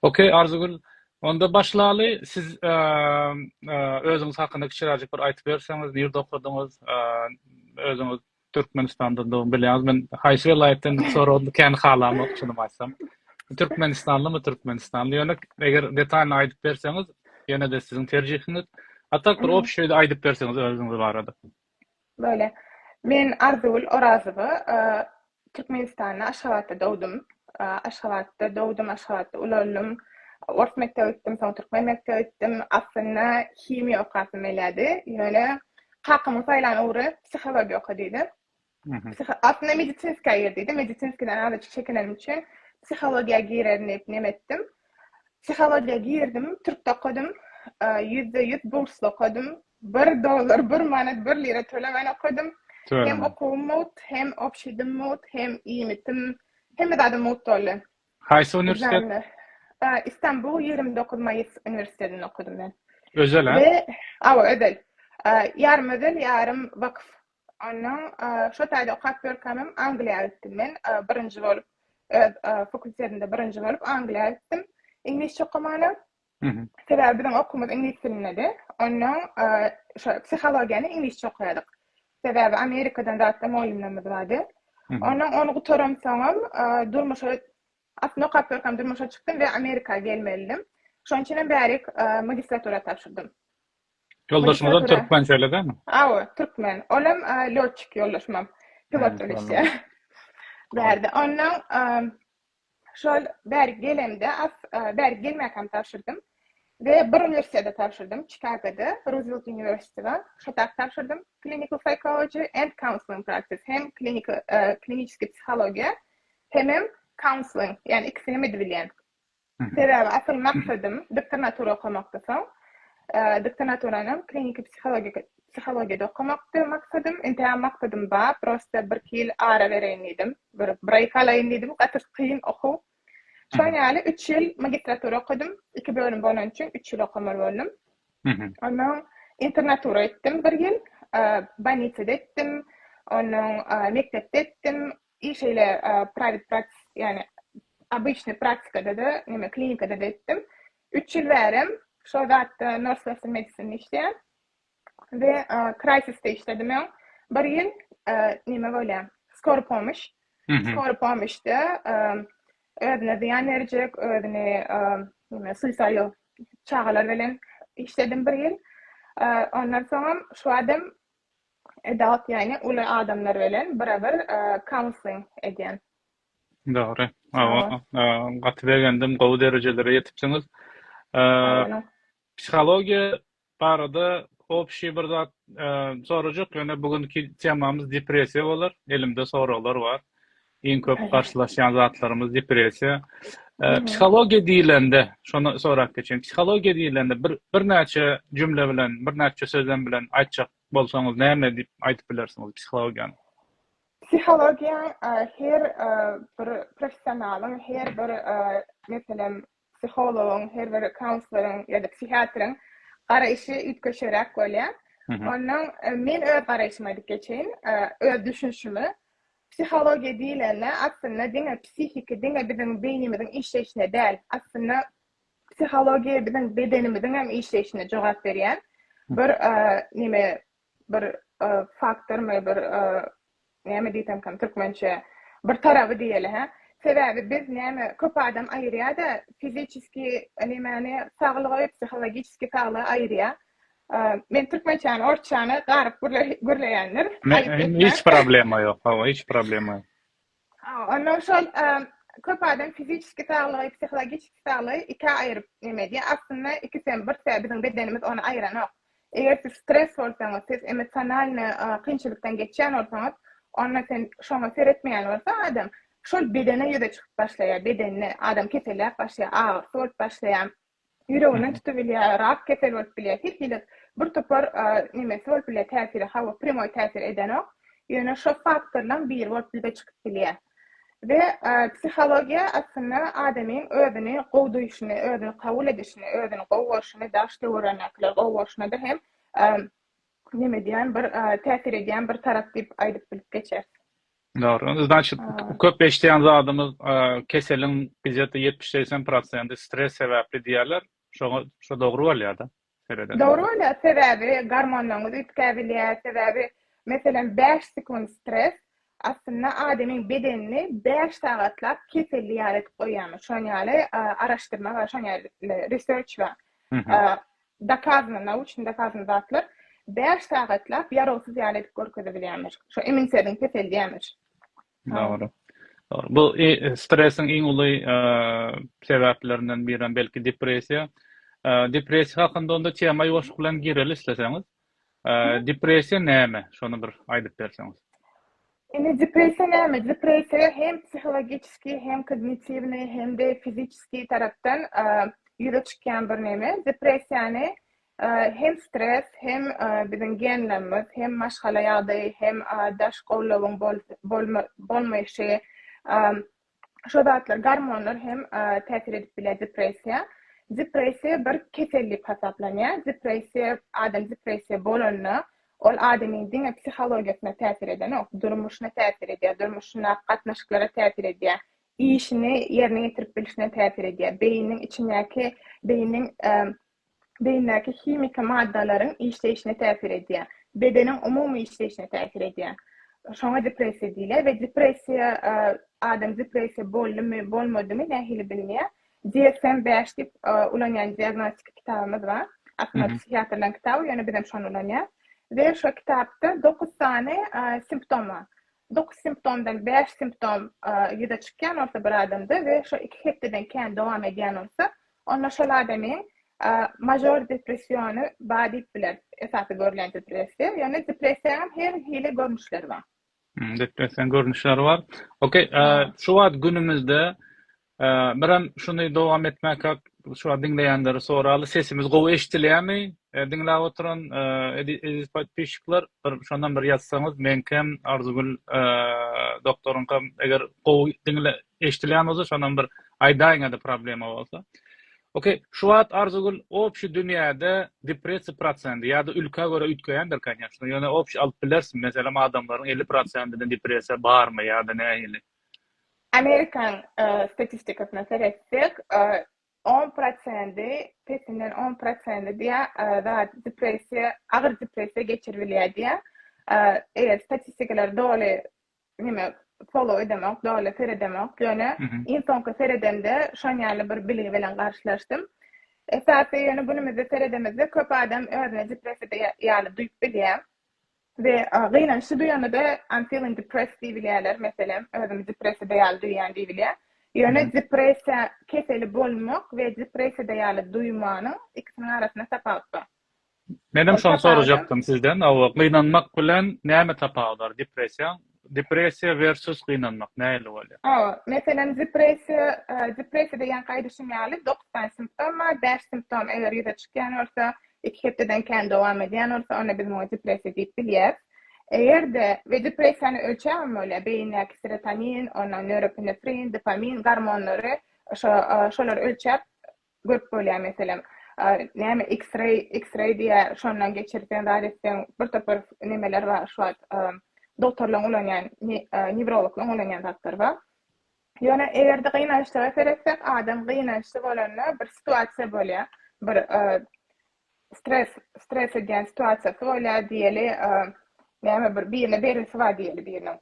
Ok Arzygül onda başlaly siz özüňiz hakynda kiçiräjik bir aýtyp berseňiz nirde okadyňyz özüňiz Türkmenistandandygyňy bilýäňiz men haýsy welaýatdan soragym kän halamok çynymy aýtsam Türkmenistanlymy Türkmenistanly ýöne eger detalny aýdyp berseňiz ýene-de siziň terjihiňiz a tak bir obşeý aýdyp berseňiz özüňiz barada. Böyle. Men Arzygül Orazowa. Türkmenistanda Aşgabatda dogdum. Aşgabatda dogdum, Aşgabatda ulaldim. Ors mekdebe gitdim, soň türkmen mekdebe gitdim. Aslynda himiýa okasym gelýärdi. Ýöne kakamyň saýlan ugry psihologiýa oka diýdi. Aslynda medisinskiýa girdiydi. Medisinskiýadan azajyk çekinenim üçin psihologiýa girerin diýip nem etdim. Psihologiýa girdim, türkde okadym. Ýüzde ýüz bursly okadym. Bir dollar, bir manat, bir lira tölemän okadym. Hem okuwym mugt, hem obşidim mugt, hem iýmitim, hemme zadym mugt boldy. Haýsy uniwersitet? Istanbul ýigrimi dokuz maýys uniwersitetinde okadym men. Özel-ä? Awa, özel. Ýarym özel, ýarym wakyf. Ondan şo taýda okap ýörkämem Angliýa gitdim men. Birinji bolup öz fakultetimde birinji bolup Angliýa gitdim. Iňlisçe okamana. Sebäbi biziň okumyz iňlis dilindedi. Ondan şo psihologiýany iňlisçe okaýadyk. Sebäbi Amerikadan zatda mugallymlarymyz bardy. Ondan ony gutaramsoňam durmuşa aslynda okap ýörkäm durmuşa çykdym we Amerika gelmelidim. Şonuň üçinem bärik magistratura tabşyrdym. Ýoldaşymyzam türkmen şeýle dämi? Hawa, türkmen. Olam lotçik ýoldaşymam. Pilot bolup işleýär. Bärde. Ondan şol bäri gelemde, bäri gelmäkem tabşyrdym we bir uniwersitete tabşyrdym, Çikagoda, Roosevelt University bar. Şoda tabşyrdym. Clinical Psychology and Counseling Practice. Hem klinik, kliniçki psihologiýa, hemem counseling, ýagny ikisini hem edip bilýän. Sebäbi asyl maksadym doktornatura okamakdy. Soň doktornaturanam kliniki psihologiýa psihologiýada okamakdy maksadym. Entägem maksadym bar, prosta birki ýyl ara bereýin diýdim. Bir bir aý galaýyn diýdim, gaty kyn okuw. Şoň ýaly üç ýyl magistratura okadym. Iki bölüm bolany üçin üç ýyl okamaly boldum. Onnoň internatura etdim bir ýyl. Bolnisada etdim. Onnoň mekdepde etdim. Ýa şeýle private practice, ýagny obyçnyý praktikada-da, näme klinikada-da etdim. Üç ýyl bärem şol zatda nurse nursing medicine işleýän we crisisde işledim öň. Bir ýyl näme bolýar, skor pomoş. Skor pomoşda özüne zyýan berjek, özüni näme suicidal çagalar bilen işledim bir ýyl. Ondan soňam şu adam Adult ýagny uly adamlar bilen biraber counseling edýän. Dogry. Gaty begendim, gowy derejelere ýetipsiňiz. Psihologiýa barada obşi bir zat sorajak, ýöne bu günki temamyz depressiýa bolar. Elimde soraglar bar. Iň köp garşylaşýan zatlarymyz depressiýa. Psihologiýa diýlende, şony sorap geçeýin. Psihologiýa diýlende bir birnäçe jümle bilen, birnäçe sözlem bilen aýtjak bolsaňyz, näme diýip aýdyp bilersiňiz psihologiýany? Psihologiýa her bir professionalyň, her bir meselem Psihologyň, her bir kaunsleriň ýa-da psihiatryň garaýşy üýtgeşeräk bolýar. Ondan men öz garaýşymy aýdyp geçeýin, öz düşünişimi. Psihologiýa diýlende aslynda diňe psihiki, diňe biziň beýnimiziň işleýşine däl, aslynda psihologiýa biziň bedenimiziň hem işleýşine jogap berýän bir näme, bir faktormy bir näme diýsemkäm türkmençe bir taraby diýeli hä sebäbi biz näme köp adam aýyrýada fiziçiski nemäni saglygy psihologiçiski saglygy aýyrýa men türkmençäni orsçany garyp gürleýändir hiç problema ýok hawa hiç problema ýok. Onda şol köp adam fiziki saglygy, psihologiki saglygy ikä aýryp neme edýär. Aslynda ikisem bir sebäp, biziň bedenimiz ony aýranok. Eger siz stres bolsaňyz, siz emosionalny kynçylykdan geçýän bolsaňyz, onda sen şoňa seretmeýän bolsa adam, şol bedene ýüze çykyp başlaýar, bedende adam keselläp başlaýar, agyrysy bolup başlaýar. Ýüreginden tutubilýär, rak keseli bolup bilýär. Her hili bir topar nemesi bolup bilýär, täsiri. Hawa, prýamoý täsir edenok. Ýöne şo faktorlaň biri bolup ýüze çykyp bilýär. We psihologiýa aslynda adamyň özüni gowy duýşuny, özüni kabul edişini, özüni gowy görşüni, daş töwerendekileri gowy görşüne-de hem neme edýän bir täsir edýän bir tarap diýip aýdyp bilip geçeris. Dogry. Znaçit, köp eşidýän zadymyz, keseliň gije-de ýetmiş, segsen prosendi stres sebäpli diýýärler. Şoňa, şo dogry bolýar-da, seredende. Dogry bolýar, sebäbi gormonlaryňyz üýtgäp bilýär, sebäbi, meselem, bäş sekunt stres, aslynda, adamyň bedenini bäş sagatlap keselli ýaly edip goýýarmyş. Şoň ýaly araşdyrma bar, şoň ýaly research bar. Dokazano, nauşny dokazano zatlar bäş sagatlap ýarawsyz ýaly edip görkezebilýärmiş. Şo iminserin peseldýärmiş. Dogry. Dogry. Bu stresiň iň uly sebäplerinden birem belki depressiýa. Depressiýa hakynda onda tema ýuwaşlyk bilen gireli isleseňiz. Depressiýa näme? Şony bir aýdyp berseňiz. Indi depressiýa näme? Depressiýa hem psihologiki, hem kognitiwni, hem-de fiziki tarapdan ýüze çykýan bir neme. Depressiýany hem stres, hem biziň genlerimiz, hem maşgala ýagdaýy, hem daş gowlawyň bolmaýşy, Şo zatlar, gormonlar hem täsir edip biler depressiýa. Depressiýa bir kesel diýip hasaplanýar. Depressiýa, adam depressiýa bolanda, ol adamyň diňe psihologiýasyna täsir edenok, durmuşyna täsir edýär, durmuşyndaky gatnaşyklara täsir edýär, işini ýerine ýetirip bilşine täsir edýär, beýniniň içindäki, beýniniň beýindäki himiki maddalaryň işleýşine täsir edýär, bedeniň umumy işleýşine täsir edýär. Şoňa depressiýa diýilýär we depressiýa, adam depressiýa boldumy, bolmadymy nähili bilmeýär? DSM bäş diýip ulanýan diagnostiki kitabymyz bar. Aslynda psihiatrlaryň kitaby, ýöne bizem şony ulanýarys we şo kitapda dokuz sany simptom bar. Dokuz simptomdan bäş simptom ýüze çykýan bolsa bir adamda we şo iki hepdeden kän dowam edýän bolsa, onda şol adamyň mažor depressiony bar diýip bileris, esasy görlen depressiýa. Ýöne depressiýanyň her hili görnüşleri bar. Depressiýanyň görnüşleri bar. Okey, şu wagt günümizde Hä, birem şuny dowam etmäkak, şuwagt diňleýänleri soraly, sesimiz gowy eşidilýärmi? Diňläp oturan eziz podpisçikler, bir şonam bir ýazsaňyz, meňkem, Arzygül doktoryňkam eger gowy diňle eşidilýän bolsa, şonam bir aýdaýyňada problema bolsa. Ok, şu wagt Arzygül obşi dünýäde depressiýa prosendi ýa-da ülkä görä üýtgeýändir konýaçno, ýöne obşi alyp bilersiň, meselem adamlaryň elli prosendinde depressiýa barmy ýa-da nähili? Amerikan statistikasyna seretsek, on prosendi, pesinden on prosendi diýýär, depressiýa, agyr depressiýa geçirip bilýär diýýär. Eger statistikalary doly neme follow edemok, doly seredemok, ýöne iň soňky seredemde şon ýaly bir bilgi bilen garşylaşdym. Esasy ýöne günümizde seredemizde köp adam özüni depressiýada ýaly duýup bilýär. We gynançly duýanyda I'm feeling depressed diýip bilýärler, meselem, özümi depressiýada ýaly duýýan diýip bilýär. Ýöne depressiýa keseli bolmak we depressiýada ýaly duýmanyň ikisiniň arasynda tapawut bar. Menem şony sorajakdym sizden, gynanmak bilen näme tapawut bar, depressiýa Depressiýa versus gynanmak nähili bolýar? Hawa, meselem, depressiýa, depressiýa diýýän aýdyşym ýaly dokuz sany simptom bar, bäş simptom eger ýüze çykýan bolsa, iki hepdeden kän dowam edýän bolsa, onda biz muňa depressiýa diýip bilýäris. Eger-de, we depressiýanyň ölçäbem bolýar, beýindäki serotonin, ondan nöropinefrin, dopamin gormonlary, şo, şolary ölçäp, Görüp bolýar meselem näme x-ray x-ray diýýär şondan geçirseň zat etseň bir topar nemeler bar şu wagt dogtorlaryň ulanýan newrologlaryň ulanýan zatlary bar ýöne egerde gynançlara seretsek adam gynançly bolanda bir situasiýa bolýar bir stres stres edýän situasiýasy bolýar diýeli näme bir birine berlisi bar diýeli biriniň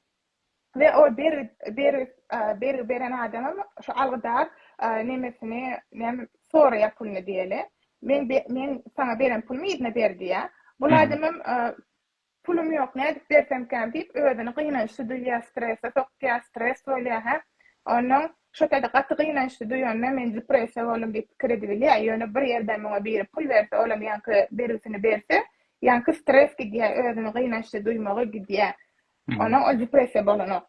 We o bergi bergi bergi beren adamam şu algydar nemesini näme soraýar puluny diýeli. Men men saňa beren pulumy yzyna ber diýýär. Bul adamam pulum ýok nädip bersemkäm diýip özüni gynançly duýýar strese sokýar stres bolýar hä. Onnoň şo taýda gaty gynançly duýanyna men depressiýa boldum diýip pikir edibilýär. Ýöne bir ýerden muňa biri pul berse olam ýaňky bergisini berse ýaňky stres gidýär özüni gynançly duýmagy gidýär. Onuň ol depressiýa bolanok.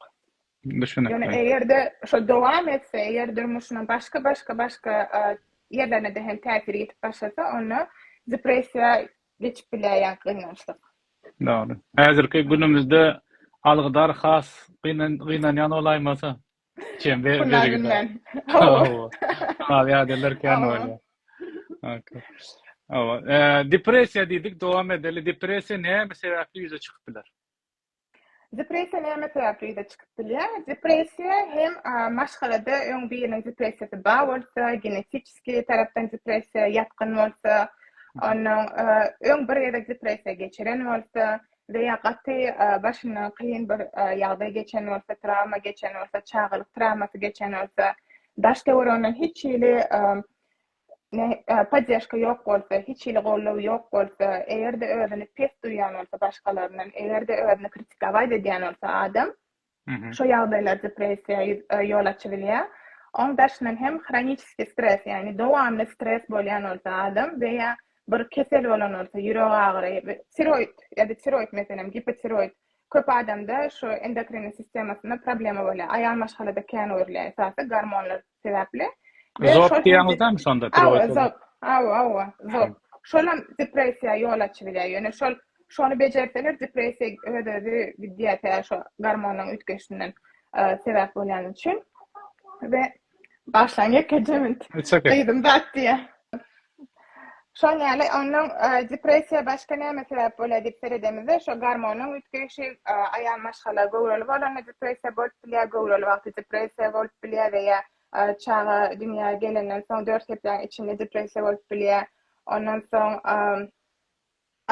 Düşünikli. Ýöne eger-de şo dowam etse, eger durmuşynyň başga, başga, başga ýerlerine-de hem täsir ýetip başlasa, onda depressiýa geçip bilýär ýa gynançlyk. Dogry. Häzirki günümizde algydar has gynanýan bolaýmasa? Şunaý günlän. Hawa. Ýadylar kän bolýar. Hawa. Depressiýa diýdik, dowam edeli. Depressiýa näme sebäpli ýüze çykyp biler? Depressiýa näme sebäpli ýüze çykyp bilýär? Depressiýa hem maşgalada öň biriniň depressiýasy bar bolsa, genetiki tarapdan depressiýa ýatgyn bolsa, onnoň öň bir gezek depressiýa geçiren bolsa we ýa gaty başyndan kyn bir ýagdaý geçen bolsa, trawma geçen bolsa, çagalyk trawmasy geçen bolsa, daş-töwereginden hiç hili poddeşka ýok bolsa, hiç hili goldaw ýok bolsa, eger-de özüni pes duýýan bolsa başgalaryndan, eger-de özüni kritikawaýt edýän bolsa adam, şo ýagdaýlar depressiýa ýol açy bilýär. Oň daşyndan hem hroniçeskiý stres, ýagny dowamly stres bolýan bolsa adam we ýa bir kesel bolan bolsa, ýürek agyry, tiroid ýa-da tiroid meselem, gipotiroid, köp adamda şu endokrinniý sistemasynda problema bolýar. Aýal maşgalada kän görülýär, esasy gormonlar sebäpli. Zop diýýäňizdämi şonda piroýka? Zop, hawa, hawa, zop. Şolam depressiýa ýol açybilýär. Ýöne şol şony bejerseler depressiýa öz-özi gidýär tä şo gormonyň üýtgeşinden sebäp bolýany üçin. We başlaň ýekeje minut. Gyzym zat diýýär. Şoň ýaly onuň depressiýa başga näme sebäp bolýar diýip seredemizde, şo gormonyň üýtgeýşi, aýal maşgala göwreli bolanda depressiýa bolup bilýär, göwreli wagty depressiýa bolup bilýär we ýa çaga dünýä gelenden soň dört hepdäň içinde depressiýa bolup bilýär. Ondan soň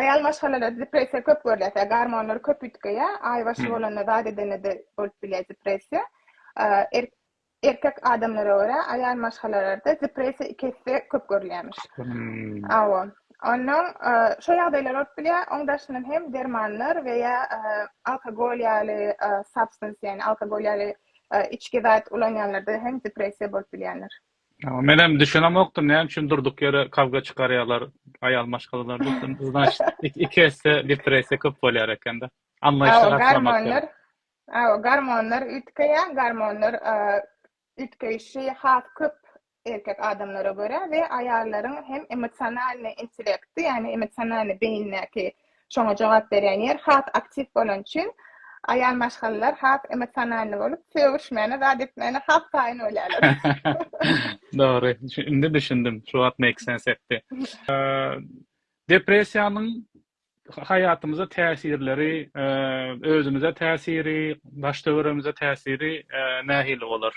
aýal maşgalalarda depressiýa köp görülýär, sebäbi gormonlar köp üýtgeýär, aýbaşy bolanda zat edende-de bolup bilýär depressiýa. Erkek adamlara görä aýal maşgalalarda depressiýa iki esse köp görülýärmiş. Hawa. Onnoň şo ýagdaýlar bolup bilýär, oň daşyndan hem dermanlar we ýa alkogol ýaly substance ýagny alkogol ýaly içgi zat ulanýanlarda hem depressiýa bolup bilýändir. Hawa menem düşünemokdym näme üçin durduk ýere kawga çykarýarlar aýal maşgalalar diýip iki esse depressiýa köp bolýar ekende. Anlaýyşly garşylamak gerek. Hawa, gormonlar üýtgeýär. Gormonlar üýtgeýşi has köp erkek adamlara görä we aýallaryň hem emosionalnyý intellekti, ýagny emosionalnyý beýindäki şoňa jogap berýän ýer has aktiw bolany üçin aýal maşgalalar has emosionalnyý bolup, sögüşmäne, zat etmäne has taýyn bolýarlar. Dogry. Indi düşündim. Şu wagt make sense etdi. Depressiýanyň haýatymyza täsirleri, özümize täsiri, daş-töweregimize täsiri nähili bolar?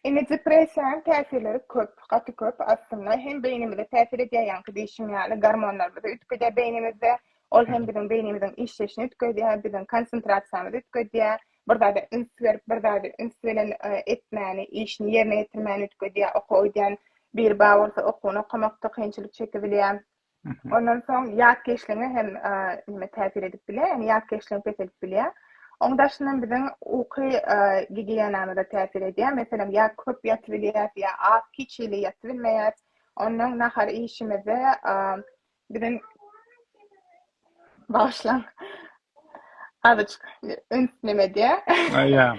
Indi depressiýanyň täsirleri köp, gaty köp. Aslynda hem beýnimize täsir edýär, ýaňky diýşim ýaly, gormonlarymyzy üýtgedýär beýnimizde. Ol hem biziň beýnimiziň işleýşini üýtgedýär, biziň konsentrasiýamyzy üýtgedýär, bir zada üns berip, bir zada üns bilen etmäni, işini ýerine ýetirmäni üýtgedýär. Okuwa gidýän biri bar bolsa, okuwyny okamakda kynçylyk çekibilýär. Ondan soň ýat keşligiňe hem neme täsir edip bilýär, ýagny ýat keşligiňi peseldip bilýär. Oň daşyndan biziň uky gigiýenamyza täsir edýär. Meselem, ýa köp ýatyp bilýäs, ýa az, hiç hili ýatyp bilmeýäs. Ondan nahar iýişimizde biziň Bagyşlaň. Azajyk üns neme diýä? Aýa.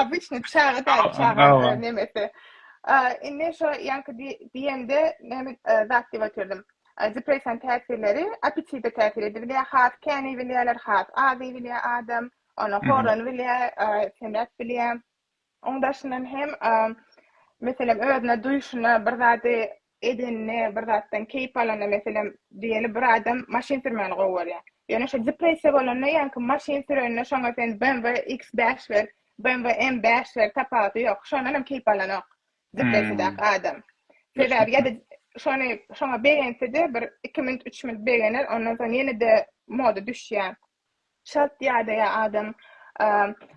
Obyçny çaga däl çaga nemesi. Indi şo ýaňky diýende näme zat diýip otyrym. Depressiýanyň täsirleri apetite täsir edip bilýär. Has kän iýip bilýärler, has az iýip bilýär adam. Onuň horlany bilýär, semräp bilýär. Oň daşyndan hem, meselem, özüne duýşuna, bir zady edenine, bir zatdan keýp alanyna, meselem, diýeli bir adam maşyn sürmäni gowy görýär. Ýöne şo depressiýa bolanda ýaňky maşyn sürenine şoňa sen BMW X5 ber, BMW M5 ber, tapawudy ýok. Şondan hem keýp alanok depressiýadaky adam. Sebäbi ýa-da şony şoňa begense-de bir iki minut, üç minut begener, ondan soň ýene-de moda düşýär. Çalt ýadaýar adam.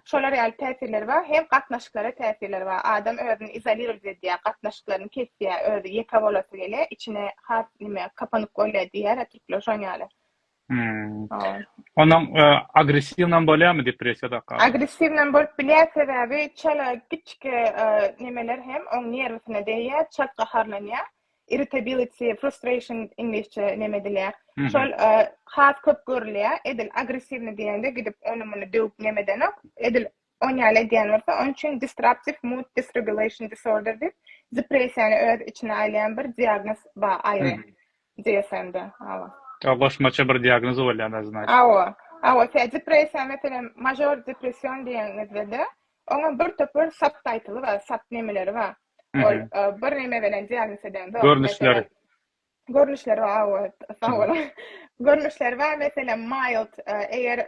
Şolar ýaly täsirleri bar. Hem gatnaşyklara täsirleri bar. Adam özüni izolirowat edýär, gatnaşyklaryny kesýär, özi ýeke bolasy gelýär, içine has nime, kapanyk bolýar diýýär-ä türkler, şoň ýaly. Onuň agressiwnam bolýarmy depressiýa dakga? Agressiwnam bolup bilýär, sebäbi çala kiçijik nimeler hem oň nerwsine degýär, çalt gaharlanýar. irritability, frustration iňlisçe neme edilýär. Şol has köp görülýär. Edil agressiwni diýende gidip ony muny döwüp neme edenok. Edil on ýaly edýän bolsa, onuň üçin disruptive mood dysregulation disorder diýip, depressiýany öz içine alýan bir diagnoz bar aýry DSM-de. Hawa. Ýa goşmaça bir diagnoz bolýar özüne. Hawa. Hawa, tä depressiýa, meselem, mažor depression diýeniňizde-de, Oňa bir topar subtitle bar, sub nemeleri bar. Ol bir neme bilen diagnoz eden zat. Görnüşleri. Görnüşleri bar, awa, sag boluň. Görnüşleri bar, meselem, mild, eger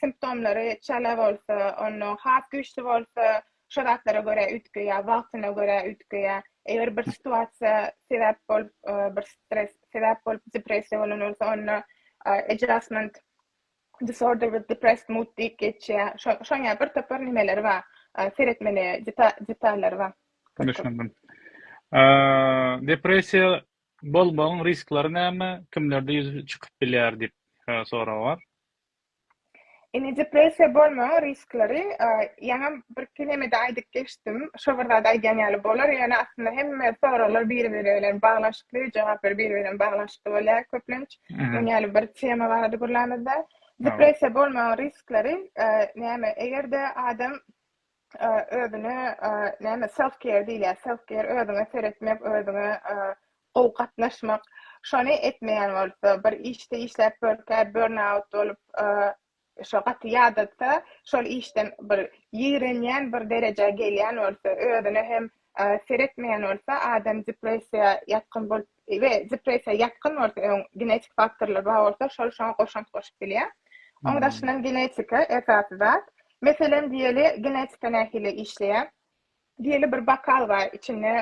simptomlary çala bolsa, onda has güýçli bolsa, şo zatlara görä üýtge ýa wagtyna görä üýtge ýa eger bir situasiýa sebäp bolup, bir stres sebäp bolup depressiýa bolan bolsa, onda adjustment Disorder with depressed mood diýip geçýär. Şo şoň ýa bir topar nimeleri bar. Seretmeli deta detallary bar. Düşündim. Depressiýa bolmagyň risklary näme? Kimlerde ýüz çykyp bilýär diýip sorag bar. Indi depressiýa bolmagyň risklary ýaňam birki nemede aýdyp geçdim. Şo bir zat aýdýan ýaly bolar. Ýöne aslynda hemme soraglar biri-biri bilen baglanyşykly, jogaplar biri-biri bilen baglanyşykly bolýar köplenç. Öň ýaly bir tema barada gürlämizde. Depressiýa bolmagyň riskleri e, näme? Eger-de adam e, özüne e, näme self care diýilýär. Self care özüňe seretmek, özüňe gowy gatnaşmak. Şony etmeýän bolsa, bir işde işläp bölkä burnout bolup, Şo gaty ýadatsa, şol işden bir ýigrenýän, bir derejä gelýän bolsa, özüne hem seretmeýän bolsa, adam depressiýa ýatgyn bolup we depressiýa ýatgyn bolsa, öň genetik faktorlar bar bolsa, şol şoňa goşant goşup bilýär. Oň daşyndan genetika esasy zat. Meselem diýeli, genetika nähili işleýär? Diýeli bir bokal bar, içinde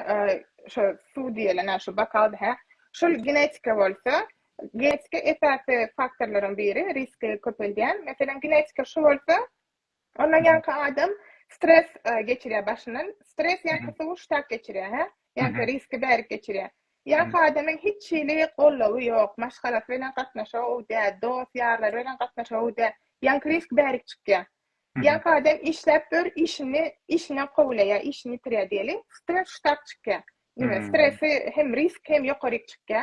şo suw diýelen a şo bokalda hä. Şol genetika bolsa, genetika esasy faktorlaryň biri, riski köpeldýän. Meselem, genetika şu bolsa, ondan ýaňky adam stres geçirýär başyndan. Stres ýaňky suwy ştak geçirýär hä. Ýaňky riski bärik geçirýär. Ýaňky adamyň hiç hili goldawy ýok, maşgalasy bilen gatnaşygy gowy däl, dost-ýarlary bilen gatnaşygy gowy däl. Ýaňky risk bärik çykýar. Ýat adam işläp dur işini işinden kowulaýa işini ýitirýä diýeliň stres ştap çykýa diňe stresi hem risk hem ýokaryk çykýa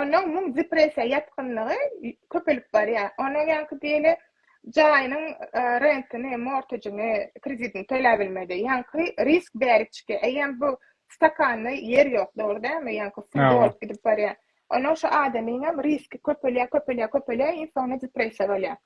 ondan muň depressiýa ýatgynlygy köpelip barýa ondan ýaňky diýeli jaýynyň rentini mortejini kreditini töläbilmedi ýaňky risk bärik çykýa eýýäm bu stakanda ýer ýok dogry dälmi ýaňky suw dolup gidip barýa ondan şu adamyňam riski köpelýä köpelýä köpelýä iň soňunda depressiýa bolýa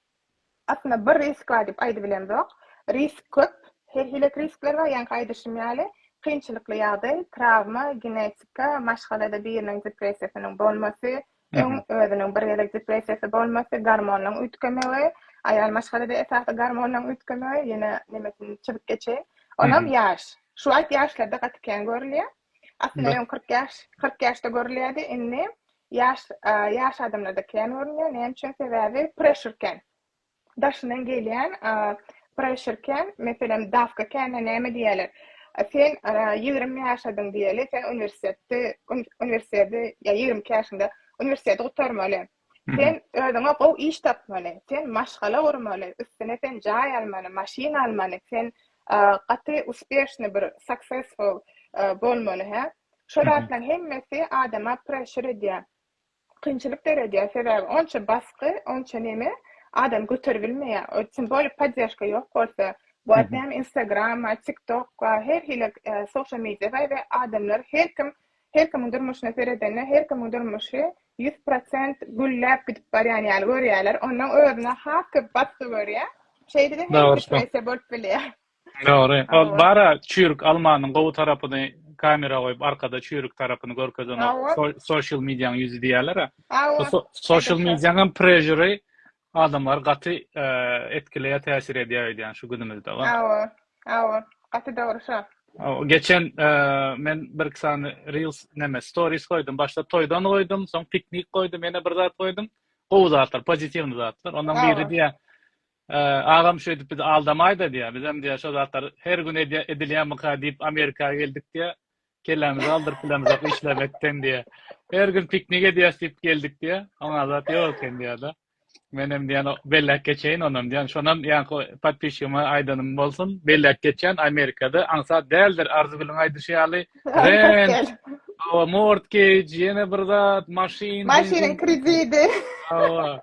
Aslynda bir riskla diýip aýdybilemzok. Risk köp. Her hilek riskler bar. Ýaňky aýdyşym ýaly, kynçylykly ýagdaý, trawma, genetika, maşgalada biriniň depressiýasynyň bolmasy, öň özüniň bir gezek depressiýasy bolmasy, gormonlaryň üýtgemegi, aýal maşgalada esasy gormonlaryň üýtgemegi, ýene nemesini çyzyp geçeýin. Onam ýaş. Şu wagt ýaşlarda gaty kän görülýär. Aslynda öň kyrk ýaş, kyrk ýaşda görülýärdi, indi ýaş, ýaş adamlarda kän görünýär. Näme üçin? Sebäbi pressure kän. Daşyndan gelýän pressure kän, meselem, dawka kän, näme diýerler? Sen ýigrimi ýaşadyň diýeli, sen uniwersitetde, uniwersiteti, ýa ýigrimi iki ýaşyňda uniwersiteti gutarmaly. Sen özüňe gowy iş tapmaly, sen maşgala gurmaly, üstüne sen jaý almaly, maşyn almaly, sen gaty uspeşny bir successful bolmaly hä. Şo zatlaň hemmesi adama pressure edýär. Kynçylyk döredýär, sebäbi onça basky, onça neme adam göterip bilmeýär. O tüm boly poddežka ýok bolsa, bu at näme Instagram, TikTok, her hili social media we adamlar her kim Her kimiň durmuşyna seredende her kimiň durmuşy ýüz prosent gülläp gidip barýan ýaly görýärler. Onnoň özüne has köp batgy görýä. Şeýdede hem depressiýa bolup bilýä. Dogry. Ol bara çüýrük almanyň gowy tarapyny kamera goýup arkada çüýrük tarapyny görkezen ol sosial mediýaň ýüzi diýýärler-ä. Sosial mediýaň hem prežiri Adamlary gaty etkileýär, täsir edýär öýdýän şu günümizde. Hawa, hawa, gaty dogry şo. Geçen men birki sany reels neme stories goýdum. Başda toýdan goýdum, soň piknik goýdum, ýene bir zat goýdum. Gowy zatlar, pozitiwny zatlar. Ondan biri diýýär, agam şeýdip bizi aldamaýda diýýär. Bizem diýýär şo zatlar her gün edilýärmika diýip Amerika geldik diýýär. Kellämizi aldyryp bilemizok işlemekden diýýär. Her gün piknik edýäs diýip geldik diýýär. Oňa zat ýok eken diýýär-de. Men hem diýen belläp geçeýin onam diýen. Şonam ýaňky podpisçigiňe aýdanym bolsun. Belläp geçýän Amerikada aňsat däldir. Arzygülüň aýdyşy ýaly rent, hawa mortgage, ýene bir zat, maşyn, maşynyň krediti. Hawa.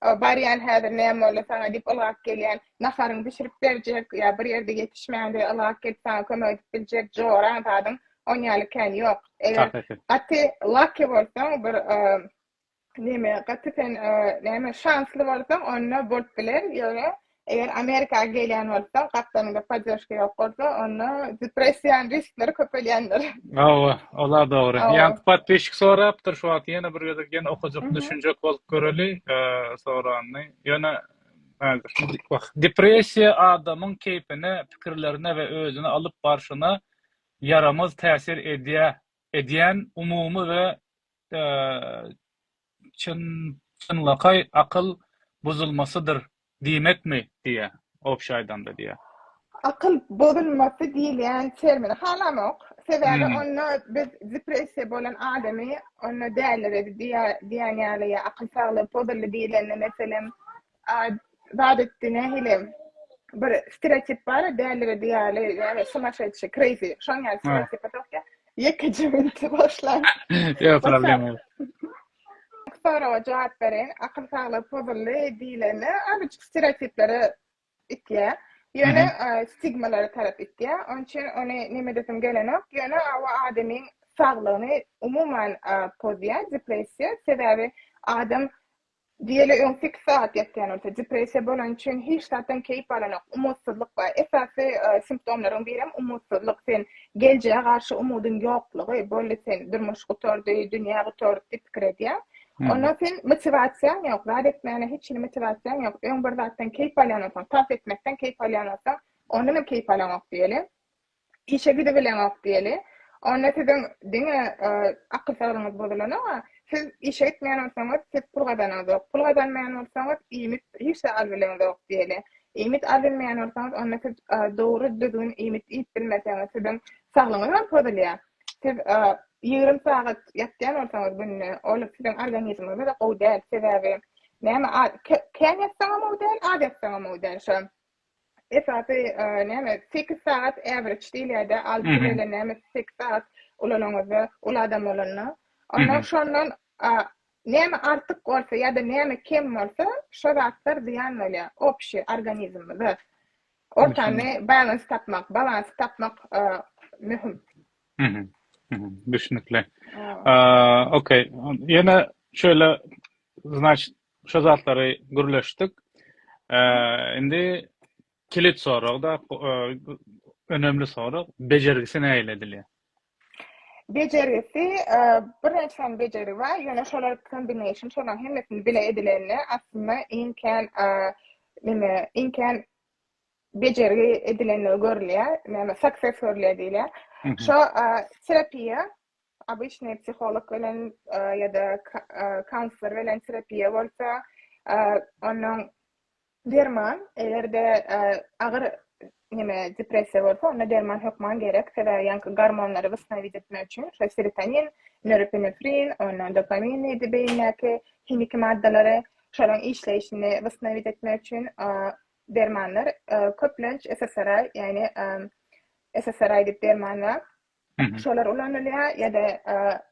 Barýan häzir näme boldy saňa diýip ylgap gelýän. Naharyňy bişirip berjek ýa bir ýerde ýetişmäňde ylgap gelip saňa kömek edip biljek joraň zadyň on ýaly kän ýok. Eger gaty lucky bolsaň bir neme gaty sen näme şansly bolsaň onda bolup biler ýöne Eger Amerika gelýän bolsaň, gapdalynda poddežka ýok bolsa, onda depressiýanyň riskleri köpelýändir. Hawa, ol-a dogry. Ýaňky podpisçik sorapdyr, şu wagt ýene bir gezek ýene okajak, düşünjek bolup göreli soranyny. Ýöne häzir, wah, depressiýa adamyň keýpine, pikirlerine we özüni alyp barşyna ýaramaz täsir edýär, edýän umumy we Çynlakaý akyl buzulmasydyr diýmekmi? diýýär. Obşa aýdanda diýýär. Akyl bozulmasy diýilýän termini halamok. Sebäbi onda biz depressiýa bolan adamy onda däliredi diýýän ýaly ýa akyl saglygy pozuldy diýilende meselem zat etdi nähili bir stereotip bar ya dällige diýýäli ýa sumaşeçi crazy şoň ýaly stereotip ýok ýa ýekeje minti boşlan ýok problem ýok soraga jogap bereýin akyl saglygy pozuldy diýlende azajyk stereotiplere itýär ýöne stigmalara tarap itýär onuň üçin ony neme edesim gelenok ýöne o adamyň saglygyny umuman pozýar depressiýa sebäbi adam Diýeli öň sekiz sagat ýatýan bolsa, depressiýa bolany üçin hiç zatdan keýp alanok, umytsyzlyk bar. Esasy simptomlaryň birem umytsyzlyk, sen geljege garşy umydyň ýoklugy, boldy sen durmuş gutardy, dünýä gutardy diýip pikir edýäň. Onda sen motiwasiýaň ýok, zat etmäne hiç hili motiwasiýaň ýok. Öň bir zatdan keýp alýan bolsaň, tans etmekden keýp alýan bolsaň, ondanam keýp alaňok diýeli. işe gidibileňok diýeli. Onda siziň diňe akyl saglygyňyz bozulana-a, siz işe gitmeýän bolsaňyz, siz pul gazananzok. Pul gazanmaýan bolsaňyz, iýmit hiç zat albileňzok diýeli. Iýmit albilmeýän bolsaňyz, onda siz dogry, düzgün iýmit iýip bilmeseňiz, siziň saglygyňyz hem pozulýar. Siz ýigrimi sagat ýatýan bolsaňyz günde, ol siziň organizmiňize-de gowy däl. Sebäbi näme, kän ýatsaň hem gowy däl, az ýatsaň hem gowy däl. Şo Esasy näme sekiz sagat average diýilýärde alty bile näme sekiz sagat ulanaňyzda ul adam bolanda onda şondan näme artyk bolsa ýa-da näme kem bolsa şo zatlar zyýan bolýar obşi organizmimize ortany balans tapmak balansy tapmak möhüm. Düşnükli. Okey. Ýene şöyle, значит, Şo zatlary gürleşdik. Indi kilit sorag-da, önemli sorag, bejergisi nähili edilýär? Bejergisi, bir näçe sany bejergi bar, ýöne şolar kombination, şolaryň hemmesini bile edilende, aslynda iň kän, neme, iň kän bejergi edilendigi görülýär, näme, success görülýär diýilýär. Şo terapiýa, Obyçnyý psiholog bilen ýa-da kaunslor bilen terapiýa bolsa, onuň derman, eger-de agyr neme depressiýa bolsa, onda derman hökman gerek, sebäbi ýaňky gormonlary wosstanowit etmek üçin şol serotonin, norepinefrin, ondan dopamin diýdi beýindäki himiki maddalary, şolaryň işleýşini wosstanowit etmek üçin dermanlar köplenç SSRI, ýagny SSRI diýip derman bar. şolar ulanylýar ýa-da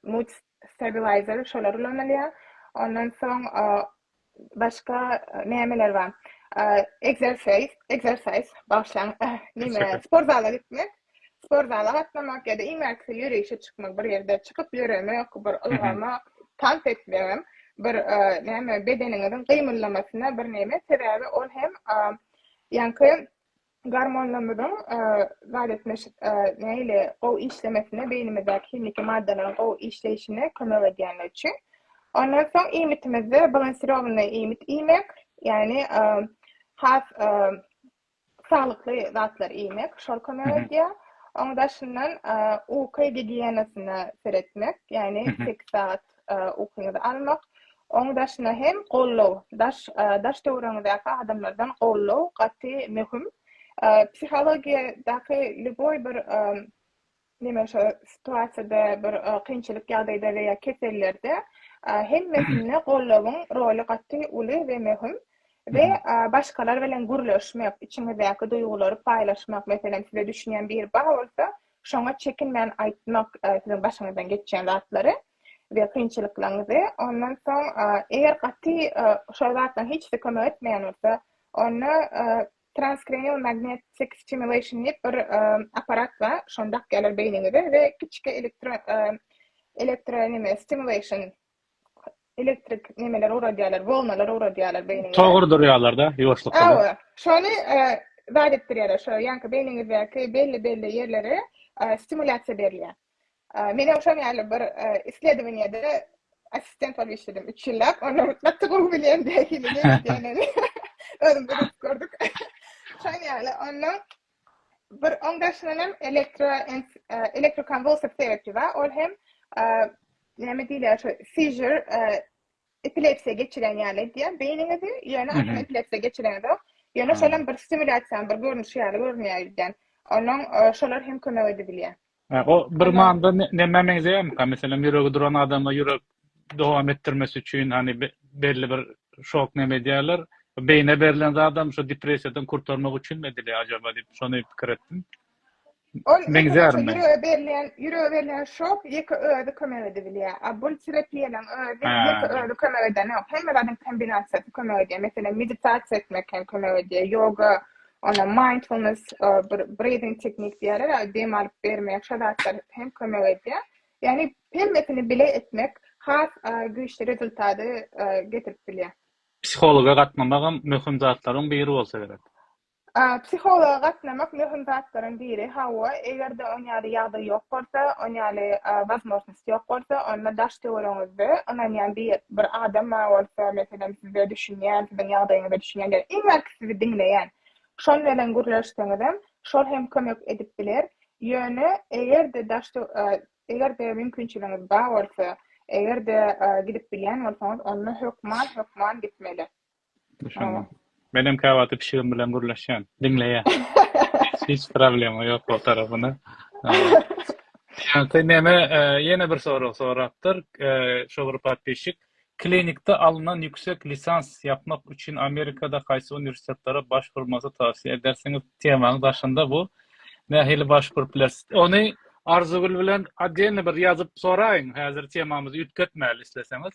mood stabilizer şolar ulanylýar. Ondan soň başga nämeler bar? Egzersiz, egzersiz bagşlaň näme sport zala gitmek, sport zala gatnamak ýa-da iň bärkisi ýörişe çykmak, bir ýerde çykyp ýöremek, bir ylgamak, tans etmegem bir näme bedeniňiziň gymyldamasyna bir näme sebäbi ol hem ýaňky Gormonlarymyzyň baletleşip nägile gowy işlemesine, beýnimizdäki himiki maddalaryň gowy işleýşine kömek edýänligi üçin. Ondan soň iýmitimizde balansirowanyý iýmit iýmek, ýagny has saglykly zatlary iýmek şol kömek edýär. Onuň daşyndan uky gigiýenasyna seretmek, ýagny sekiz sagat ukyňyzy almak, oň daşyna hem gollow, daş daş döwrüňizdäki adamlardan gollow gaty möhüm. Psihologiýadaky lýuboý bir neme şo situasiýada bir kynçylyk ýagdaýda we ýa kesellerde hemmesinde gollowyň roly gaty uly we möhüm we başgalar bilen gürleşmek, içiňizdäki duýgulary paýlaşmak, meselem size düşünýän biri bar bolsa, Şoňa çekinmän aýtmak siziň başyňyzdan geçýän zatlary we kynçylyklaryňyzy. Ondan soň, eger gaty şol zatlaryň hiçsi kömek etmeýän bolsa, onda transkranial magnetic stimulation diýip bir apparat bar, şony dakýarlar beýniňize we kiçi elektro elektro neme stimulation elektrik nemeler uradýarlar, wolnalar uradýarlar beýniňe. Tok urdurýarlar-da, ýuwaşlyk bilen. Hawa, şony zat etdirýärler, şo ýaňky beýniňizdäki belli-belli ýerlere stimulýasiýa berilýär. Men hem şoň ýaly bir isledowaniýede assistent bolup işledim üç ýyllap, onda gaty gowy bilýän nähili nähili edýänini özümizem edip gördük. Şoň ýaly, onda Bir oň daşyndan hem elektro elektrokonwulsiw terapi bar. Ol hem näme diýilýär şu seizure epilepsiýa geçiren ýaly edýär beýniňizi, ýöne aslynda epilepsiýa geçiren zat. Ýöne şolam bir stimulýasiýanyň bir görnüşi ýaly görünýär ýöne. Onuň şolar hem kömek edip bilýär. Hä, o bir Ol manyda ne- nämä meňzeýärmika? Meselem, ýüregi duran adama ýürek dowam etdirmesi üçin, hany, be- belli bir şok näme edýärler? Beýne berlen zadam şu depressiýadan kurtarmak üçinmi edilýär ajaba diýip, şony pikir etdim. Ol meselem, Meňzärmi? şo ýürege berilýän, ýürege berilýän şok ýeke özi kömek edibilýär. A bul terapiýalaryň özi Hä, ýeke dogry. özi kömek edenok. Hemme zadyň kombinasiýasy kömek edýär. Meselem, meditasiýa etmek hem kömek edýär, ýoga Onda mindfulness breathing teknik diýerler, dem alyp bermek, şo zatlar hem kömek edýär. Ýagny hemmesini bile etmek has güýçli rezultaty getirip bilýär. Psihologa gatnamagam möhüm zatlaryň biri bolsa gerek. Psihologa gatnamak möhüm zatlaryň biri, hawa, eger-de oňýaly ýagdaý ýok bolsa, oňýaly Ýok bolsa, onda daş-töweregiňizde ynanýan bir bir adam bar bolsa, meselem, size düşünýän, siziň ýagdaýyňyza düşünýän ýa-da iň belki sizi diňleýän. Şol bilen gürleşseňizem, şol hem kömek edip biler. Ýöne eger-de daş töw e, eger-de mümkinçiligiňiz bar bolsa, eger-de e, gidip bilýän bolsaňyz, onda hökman, hökman gitmeli. Düşündim. Menem käwagty pişigim bilen gürleşýän. Diňleýän. Hiç problema ýok ol tarapyna. Ýa-da näme, ýene bir sorag sorapdyr şu bir podpisçik. Klinikde alnan ýüksek lisans ýapmak üçin Amerikada haýsy uniwersitetlere başburmagy towsiýe edersiňiz? Temaň daşynda bu. Nähili başburup bileris? Ony Arzygül bilen otdelny bir ýazyp soraýyň. Häzir temamyzy üýtgetmäli isleseňiz.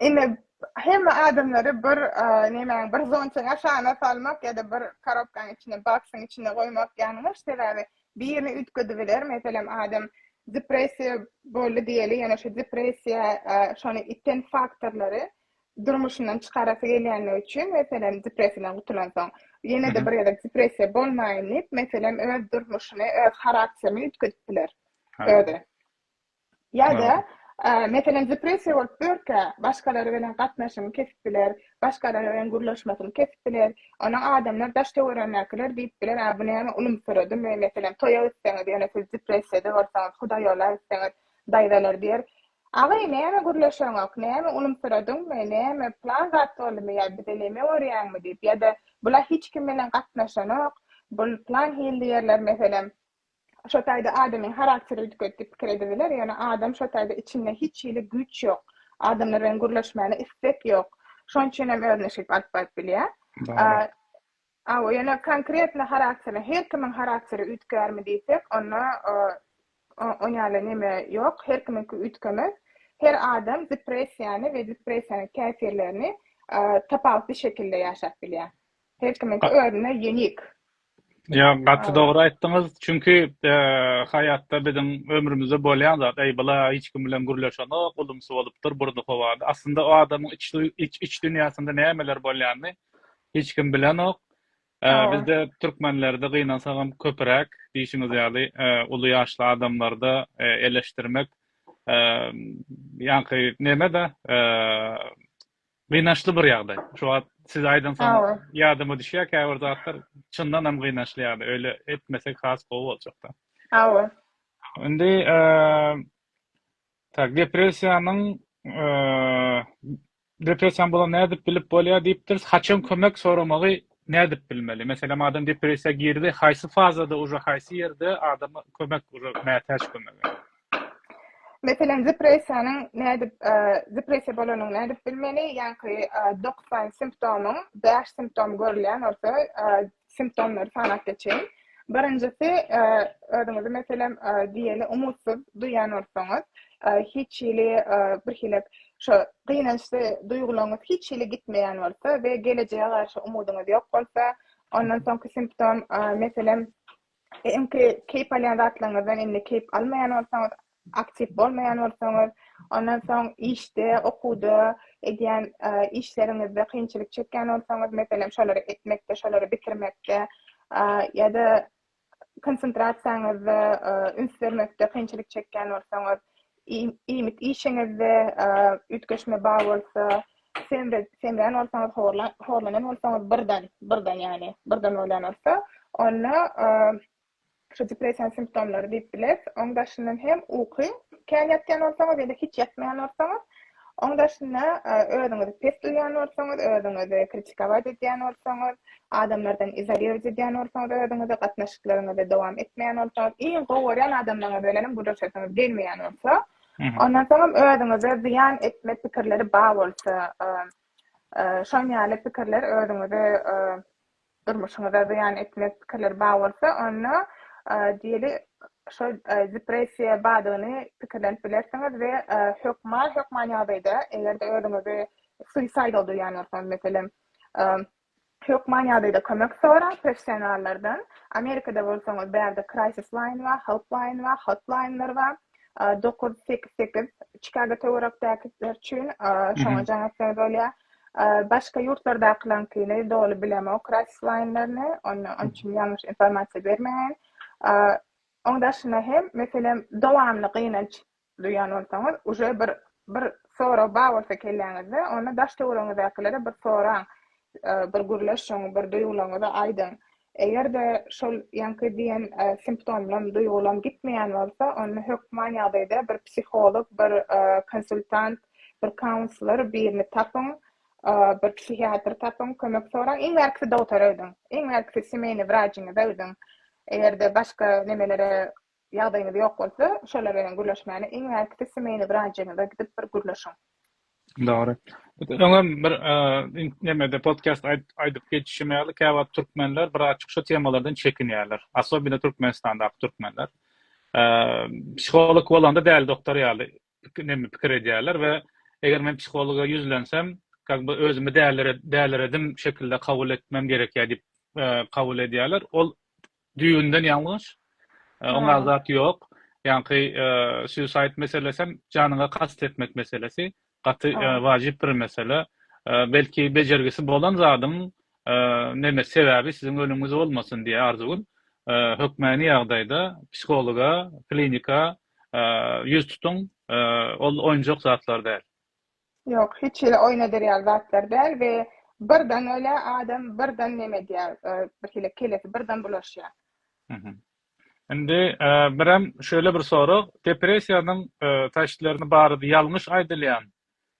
Indi hemme adamlary bir nemäň bir zontyň aşagyna salmak ýa-da bir korobkaň içine baksyň içine goýmak ýalňyş sebäbi birini üýtgedebiler meselem adam depressiýa boldy diýeli ýöne şu depressiýa şony iten faktorlary durmuşyndan çykarasy gelýänligi üçin meselem depressiýadan gutulansoň ýene-de bir gezek depressiýa bolmaýyn diýip meselem öz durmuşyny öz harakterini üýtgedip biler özi. Ýa-da, meselem, depressiýa bolup ýörkä, başgalar bilen gatnaşygyny kesip biler, başgalar bilen gürleşmesini kesip biler. Onuň adamlar daş-töweregindäkiler diýip biler, A, bu näme, ulumsyradymy? Meselem, toýa gitseňiz, ýöne siz depressiýada bolsaňyz, hudaýola gitseňiz, daýzalar diýer, Agy, näme gürleşeňok, näme, ulumsyradyňmy, näme, plan zat boldumy ýa bize neme görýäňmi diýip, ýa-da, Bula hiç kim bilen gatnaşanok, bul plan hilli ýerler, meselem. Şo taýda adamyň harakteri üýtgedi diýip pikir edibiler, ýöne adam şo taýda içinde hiç hili güýç ýok, adamlar bilen gürleşmäne istek ýok. Şonuň üçin hem özüne şeýdip alyp baryp bilýär. Hawa, ýöne konkretno harakteri, her kimiň harakteri üýtgärmi diýsek, onda on ýaly neme ýok, her kimiňki üýtgemez. Her adam depressiýany we depressiýanyň täsirlerini tapawutly şekilde ýaşap bilýär. Her kimiňki özüne ýenik. Ýa gaty dogry aýtdyňyz. Çünki haýatda biziň ömrümizde bolýan zat, eý bula hiç kim bilen gürleşenok, ulumsy bolupdyr, burny howada. Aslynda o adamyň iç dünýäsinde nämeler bolýanyny hiç kim bilenok. Bizde türkmenlerde gynansagam köpüräk diýşiňiz ýaly uly ýaşly adamlarda eleşdirmek ýaňky neme-de Gynançly bir ýagdaý. Şu wagt siz aýdansoň ýadyma düşýär käbir zatlar çyndan hem gynançly ýagdaý. Öýle etmesek has gowy boljakda. Hawa. Indi tak depressiýanyň depressiýam bolan nädip bilip bolýar diýipdiris. Haçan kömek soramagy nädip bilmeli? Meselem adam depressiýa girdi, haýsy fazada uje haýsy ýerde adama kömek uje mätäç kömege? Meselem, depressiýanyň nädip, depressiýa bolanyny nädip bilmeli? Ýaňky dokuz sany simptomyň bäş simptomy görülýän bolsa, simptomlary sanap geçeýin. Birinjisi, özüňizi, meselem, diýeli umytsyz duýýan bolsaňyz, hiç hili birhili şo gynançly duýgularyňyz hiç hili gitmeýän bolsa we gelejege garşy umydyňyz ýok bolsa. Ondan soňky simptom, meselem, Öňki keýp alýan zatlaryňyzdan indi keýp almaýan bolsaňyz, aktiw bolmaýan bolsaňyz, ondan soň işde, okuwda, edýän işleriňizde kynçylyk çekýän bolsaňyz, meselem, şolary etmekde, şolary bitirmekde ýa-da konsentrasiýaňyzda üns bermekde kynçylyk çekýän bolsaňyz, Iýmit işiňizde üýtgeşme bar bolsa, semrän bolsaňyz, horlanan bolsaňyz, birden, birden ýagny, birden bolýan bolsa, onda şu depressiýanyň simptomlary diýip bileris. Oň daşyndan hem uky kän ýatýan bolsaňyz ýa-da hiç ýatmaýan bolsaňyz, Oň daşynda özüňizi pes duýýan bolsaňyz, özüňizi kritikować edýän bolsaňyz, adamlardan izolirowat edýän bolsaňyz özüňizi, gatnaşyklaryňyzy dowam etmeýän bolsaňyz, iň gowy görýän adamlaryňyz bilenem gürleşesiňiz gelmeýän bolsa, ondan soňam özüňize zyýan etme pikirleri bar bolsa, şoň ýaly pikirler özüňizi durmuşyňyza zyýan etmez pikirler bar bolsa, onda, diýeli, şol depressiýa bardygyny pikirlenip bilersiňiz we hökman, hökman ýagdaýda, eger-de özüňizi suicidal duýýan bolsaňyz, meselem, hökman ýagdaýda kömek soraň professionallardan. Amerikada bolsaňyz, bärde Crisis Line bar, Help Line bar, Hotline-ler bar, dokuz sekiz sekiz, Çikago töwerekdäkiler üçin, şoňa jaň etseňiz bolýar. Başga ýurtlardakylaňkyny doly bilemok Raisweinlerini, onda onuň üçin ýalňyş informasiýa bermeýän. Oň daşyna hem, meselem, dowamly gynanç duýan bolsaňyz, uje bir bir sorag bar bolsa kelläňizde, onda daş-töweregiňizdäkilere bir soraň, bir gürleşiň, bir duýgularyňyzy aýdyň. Eger-de şol ýaňky diýen simptomlam, duýgylam gitmeýän bolsa, onda hökman ýagdaýda bir psiholog, bir konsultant, bir kaunslor birini tapyň, bir psihiatr tapyň, kömek soraň. Iň bärkisi dogtora gidiň. Iň bärkisi semeýny wrajiňize gidiň. Eger-de başga nemelere Ýagdaýyňyz ýok bolsa, şolar bilen gürleşmäni iň bärkisi smeýna wraçyňyza gidip bir gürleşiň. Dogry. Öňem bir nemede podcast aýdyp geçişim ýaly, käwagt türkmenler bir açyk şu temalardan çekinýärler. Asobino Türkmenistandaky türkmenler. Psiholog bolanda däli doktor ýaly pikirlenip pikir edýärler we eger men psihologa ýüzlensem как бы özümi däliredim şekilde kabul etmem gerekýär diýip kabul edýärler ol düýbünden ýalňyş oňa zat ýok ýaňky suicide meselesem janyňa kast etmek meselesi gaty wajyp bir mesele belki bejergisi bolan zadyň neme sebäbi siziň ölümiňiz bolmasyn diýýär arzuwyn hökmäni ýagdaýda psihologa klinika ýüz tutuň, ol oýnjak zatlar däl. Ýok, hiç hili oýun eder ýaly zatlar däl we birden öle adam birden neme edýär, birhili kellesi birden bulaşýar. Indi birem şöyle bir sorag, depressiýanyň taştlerini barada ýalňyş aýdylýan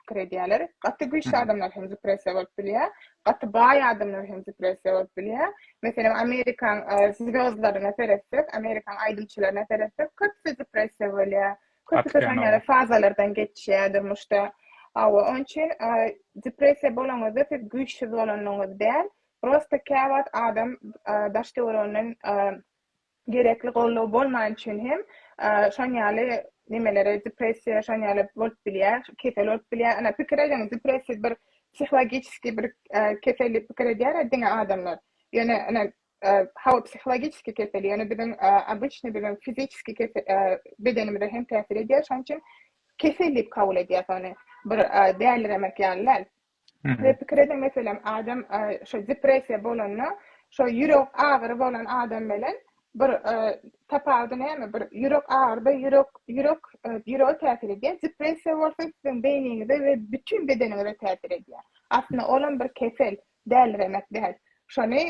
pikir edýärler. Gaty güýçli adamlar hem depressiýa bolup bilýär. Gaty baý adamlar hem depressiýa bolup bilýär. Meselem, Amerikan zwezdlaryna seretsek, Amerikan aýdymçylaryna seretsek, köpüsi depressiýa bolýar. Köpüsi ýaly fazalardan geçýär durmuşda. Hawa, onuň üçin depressiýa bolanyňyzda siz güýçsüz bolanyňyz däl, prosta käwagt adam daş-töwereginden Gerekli goldaw bolmany üçin hem şon ýaly nemelere depressiýa şon ýaly bolup bilýä kesel bolup bilýä ene pikir ediň depressiýa bir psihlagiçiskiý bir kesel diýip pikir edýärä diňe adamlar ýöne ene hawa psihlagiçiskiý kesel ýöne biziň obyçnyý biziň fiziçiskiý kesel bedenimize hem täsir edýär şon üçin kesel diýip kabul edýäs ony bir däliremek ýaly däl Size pikir ediň meselem adam şo depressiýa bolanda şo ýürek agyry bolan adam belen bir tapawudy näme bir ýürek agyrda ýürek ýürek ýürege täsir edýär depressiýa bolsa siziň beýniňize we bütin bedeniňize täsir edýär aslynda olam bir kesel däliremek däl şony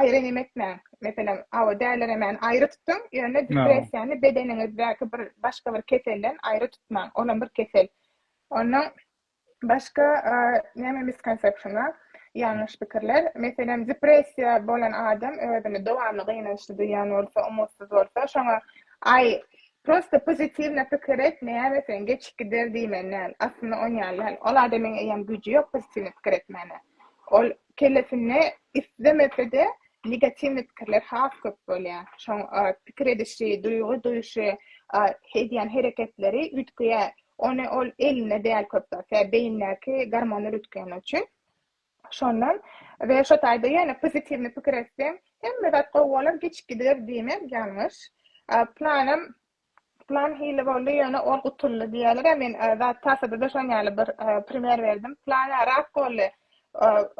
aýry neme etmäň meselem awa däliremäni aýry tutuň ýöne depressiýany bedeniňizdäki bir başga bir keselden aýry tutmaň olam bir kesel ondan Başga näme misconception-a, ýalňyş pikirler? Meselem, depressiýa bolan adam özüni dowamly gynançly duýýan bolsa, umutsyz bolsa, şoňa, Aý, prosta pozitiwno pikir et, näme sen, geçip gider diýmeli däl. Aslynda on ýaly däl. Ol adamyň eýýäm güýji ýok pozitiwno pikir etmäne. Ol kellesinde islemese-de negatiwno pikirler has köp bolýar. Şoň pikir edişi, duýgy duýşy, edýän hereketleri üýtgeýär. Ony ol elinde däl köp zat we beýindäki gormony rütgeni üçin. Şondan we şo taýda ýöne pozitiwny pikir etseň hemme zat gowy bolar giç gider diýmek ýalňyş. Planam plan hili boldy ýöne ol gutuldy diýerler-ä men zat tasada-da şoň ýaly bir primer berdim. Plan-a rak boldy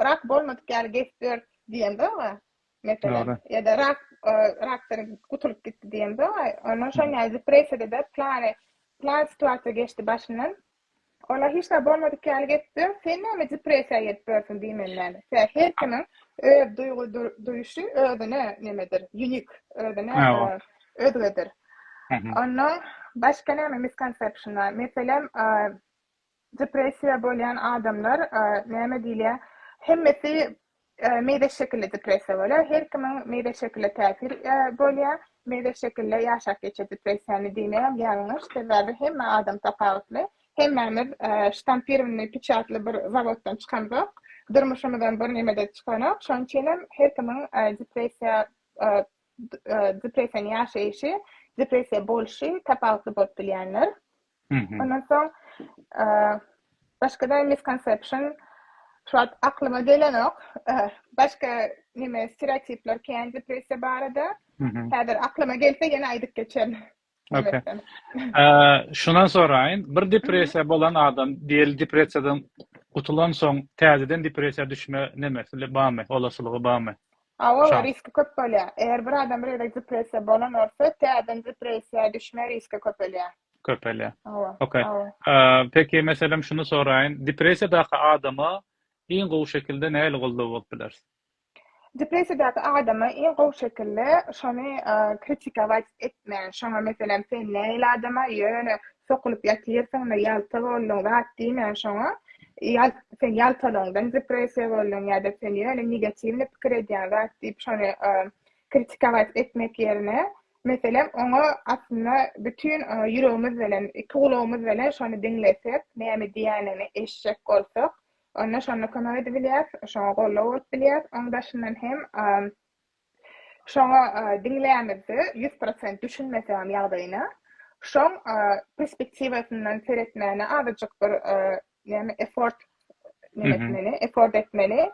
rak bolmadyk ýaly geçip ýör diýen zog-a. Meselem, ýa-da rak, rakdan gutulyp gitdi diýen zat, ondan şol näme depressiýada-da plany, plan situasiýa geçdi başyndan. Ola hiç zat bolmadyk ýaly geçse, sen näme depressiýa gelip börsiň diýmeli näme. Sebäbi her kimiň öz duýgy duýuşy özüne nemedir, unique, özüne özgedir. Ondan başga näme misconception bar? Meselem, Depressiýa bolýan adamlar näme diýilýär? Hemmesi meýze şekilli depressiýa bolýar. Her kimiň meýze şekile täsir bolýar. Meýze şekille ýaşap geçýär depressiýany diýmegem ýalňyş. Sebäbi hemme adam tapawutly. Hemmämiz ştampirowanyý piçatly bir zawoddan çykamzok. Durmuşymyzdan birneme-de çykanok. Şonuň üçinem her kimiň depressiýa depressiýany ýaşaýşy, depressiýa bolşy tapawutly bolup bilýändir. Ondan soň başga-da misconception şu wagt aklyma gelenok. Başga neme stereotipler kän depressiýa barada. Häzir aklyma gelse ýene aýdyp geçerin. Okay. Şundan soraýyn, bir depressiýa bolan adam diýeli depressiýadan gutulan soň täzeden depressiýa düşme nemesi barmy, olaslygy barmy? Hawa, we riski köp bolýar. Eger bir adam bir gezek depressiýa bolan bolsa, täzeden depressiýa düşme riski köpelýär. Köpelýär. Hawa. Okey. Peki, meselem, şuny soraýyn, depressiýadaky adama iň gowy şekilde nähili goldaw bolup bileris? Depressiýadaky adama iň gowy şekilde şony kritikować etmän, şoňa meselem, sen nähili adama ýöne Sokulyp ýatyrsyňda ýalta bolduň zat diýmän şoňa ýal sen ýaltalygyňdan depressiýa bolduň ýa-da sen ýöne negatiwny pikir edýäň zat diýip şony kritikować etmek ýerine meselem oňa aslynda bütin ýüregimiz bilen iki gulagymyz bilen şony diňlesek näme diýänini eşjek bolsak onda şonda kömek edibilýäs şoňa goldaw bolup bilýäs oň daşyndan hem Şoňa diňlämizde ýüz prosent düşünmeseňem ýagdaýyna, şoň perspektiwasyndan seretmäne azajyk bir näme effort etmeli, effort etmeli,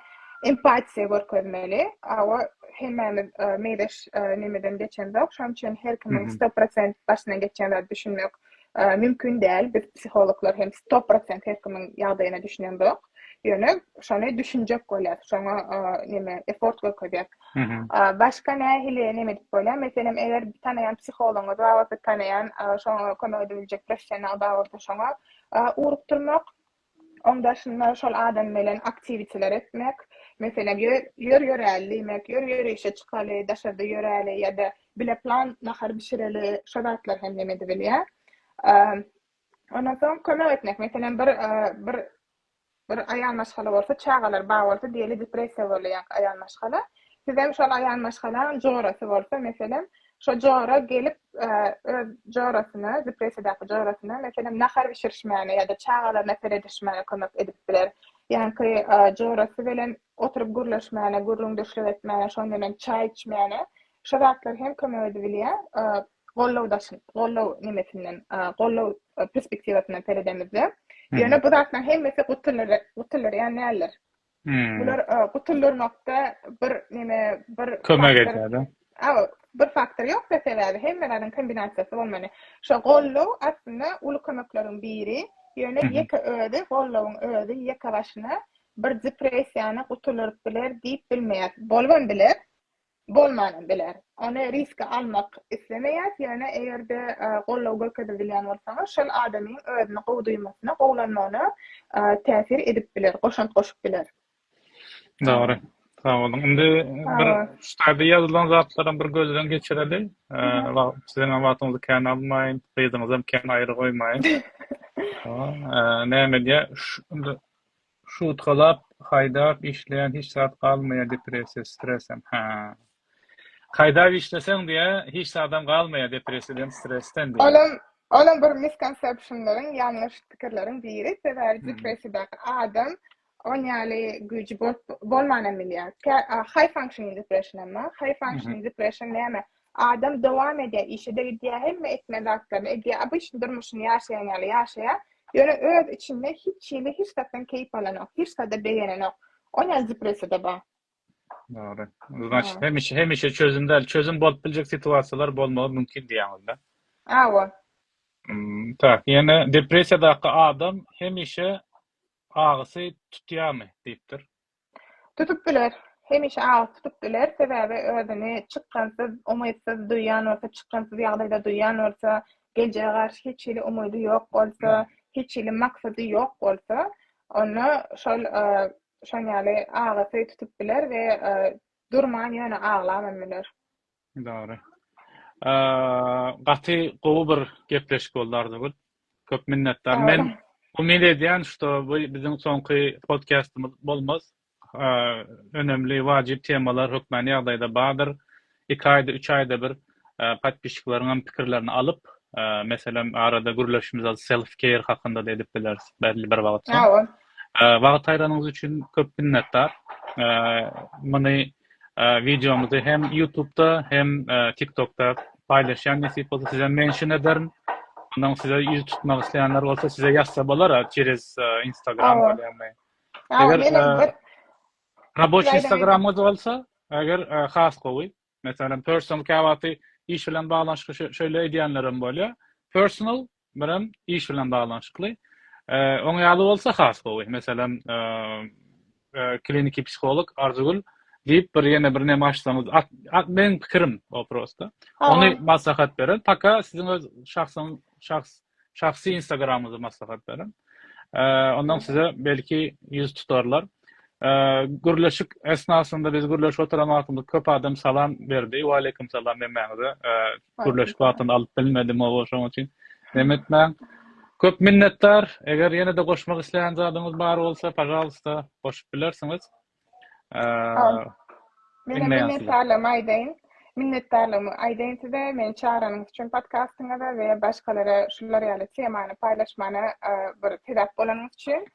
empatiýa görkezmeli. Hawa, hemmämiz meýleş nemeden geçemzok, şonuň üçin her kimiň sto prosent başyndan geçýän zady düşünmek Mümkin däl, biz psihologlar hem sto prosent her kimiň ýagdaýyna düşünemzok. Ýöne şony düşünjek bolýas, şoňa näme effort görkezýäs. Başga nähili näme edip bolýar? Meselem, eger tanaýan psihologyňyz bar bolsa, tanaýan şoňa kömek edip biljek professional bar bolsa, şoňa ugrukdyrmak. Oň daşynda şol adam bilen aktiwiteler etmek, meselem, ýör ýöräli diýmek, ýör ýörişe çykaly, daşarda ýöräli ýa-da bile plan nahar bişireli, şo zatlar hem nem edibilýär. Ondan soň kömek etmek, meselem, bir bir bir aýal maşgala bolsa, çagalary bar bolsa, diýeli depressiýa bolýar aýal maşgala. Sizem şol aýal maşgalaň jorasy bolsa, meselem, Şo jora gelip, öz jorasyna, depressiýadaky jorasyna, meselem, nahar bişirişmäne ýa-da çagalaryna seredişmäne kömek edip biler. Ýaňky jorasy bilen oturyp gürleşmäne, gürrüňdeşlik etmäne, şon bilen çaý içmäne, şo zatlar hem kömek edibilýär. Goldaw daşyn, goldaw nimesinden, goldaw perspektiwasyndan seredemizde, ýöne bu zatlaryň hemmesi gutulyr, gutulyr ýaly däldir. Bular gutuldyrmakda bir neme bir kömek edýär. Hawa, bir faktor ýok-da sebäbi hemme zadyň kombinasiýasy bolmaly. Şo goldaw aslynda uly kömekleriň biri, ýöne ýeke özi goldawyň özi ýeke başyna bir depressiýany gutuldyryp biler diýip bilmeýäs. Bolubam biler. bolmanam biler. Ony riske almak islemeýäs, ýöne eger-de goldaw görkezip bilýän bolsaňyz, şol adamyň özüni gowy duýmasyna, gowulanmagyna täsir edip biler, goşant goşup biler. Dogry. Sag boluň. Indi bir şu taýda ýazylan zatlaram bir gözden geçireli. Siziňem wagtyňyzy kän almaýyn, gyzyňyzam kän aýry goýmaýyn. Näme diýýär, Şutgalap haýdap işleýän hiç zat galmaýa depressiýa stresem hä. Haýdap işleseň diýä hiç zadam galmaýa depressiýadan stresden diýä. Olam bir miskontsepşinleriň ýalňyş pikirleriň biri sebäbi depressiýadaky adam on ýaly güýji bolup bolmanam bilýä. Kä haý fankşinin depressionam bar. Haý fankşinin depression näme? Adam dowam edýär, işe-de gidýär, hemme etmeli zatlaryny edýär, obyçny durmuşyny ýaşaýan ýaly ýaşaýar, ýöne öz içinde hiç hili hiç zatdan keýp alanok, hiç zada begenenok. Ol ýaly depressiýada bar. Dogry. Znaçt, hemişe, hemişe çözüm däl, çözüm bolup biljek situasiýalar bolmagy mümkin diýýäňizda. Hawa. Tak, ýene depressiýadaky adam hemişe agysy tutýarmy diýipdir. Tutup biler. Hemişe agyz tutup biler, sebäbi özüni çykgynsyz, umytsyz duýýan bolsa, çykgynsyz ýagdaýda duýýan bolsa, geljege garşy hiç hili umydy ýok bolsa, hiç hili maksady ýok bolsa, onda şol şoň ýaly agysy tutup biler we durman ýöne aglam hem biler. Dogry. Gaty gowy bir gepleşik boldy Arzygül. Köp minnetdar. Men umyt edýän, şto bu biziň soňky podkastymyz bolmaz. Önemli wajyp temalar hökmany ýagdaýda bardyr. Iki aýda, üç aýda bir podpisçikleriň hem pikirlerini alyp, meselem arada gürleşimiz az self care hakynda-da edip bileris belli bir wagtsoň. Wagt aýranyňyz üçin köp minnetdar. Muny Wideomyzy hem ýutubda hem tiktokda paýlaşýan nesip bolsa sizem mention ederin. Ondan size ýüz tutmak isleýänler bolsa size ýazsa bolar çerez instagram bolýamy. Eger raboç instagramyňyz bolsa eger has gowy. Meselem personal käwagty iş bilen baglanyşykly şeýle edýänlerem bolýar. Personal Birem iş bilen baglanyşykly. Oň ýaly bolsa has gowy. Meselem, kliniki psiholog Arzygül diýip bir ýene bir näme açsaňyz, meniň pikirim o prosta. Ony maslahat berer. Paka siziň öz şahsyň şahs şahsy instagramyňyzy maslahat berer. Ondan size belki ýüz tutarlar. Gürleşik esnasynda biz gürleşip oturan wagtymyz köp adam salam berdi. Wa aleýkum salam hemmäňize. Gürleşik wagtynda alyp bilmedim oba şoň üçin nem etmäň. Köp minnetdar. Eger ýene-de goşmak isleýän zadyňyz bar bolsa, pažalwsta, goşup bilersiňiz. Meniň minnetdarlygymy aýdaýyn. Minnetdarlygymy aýdaýyn size. Meni çagranyňyz üçin podkastyňyza we başgalara şular ýaly temany paýlaşmana bir sebäp bolanyňyz üçin.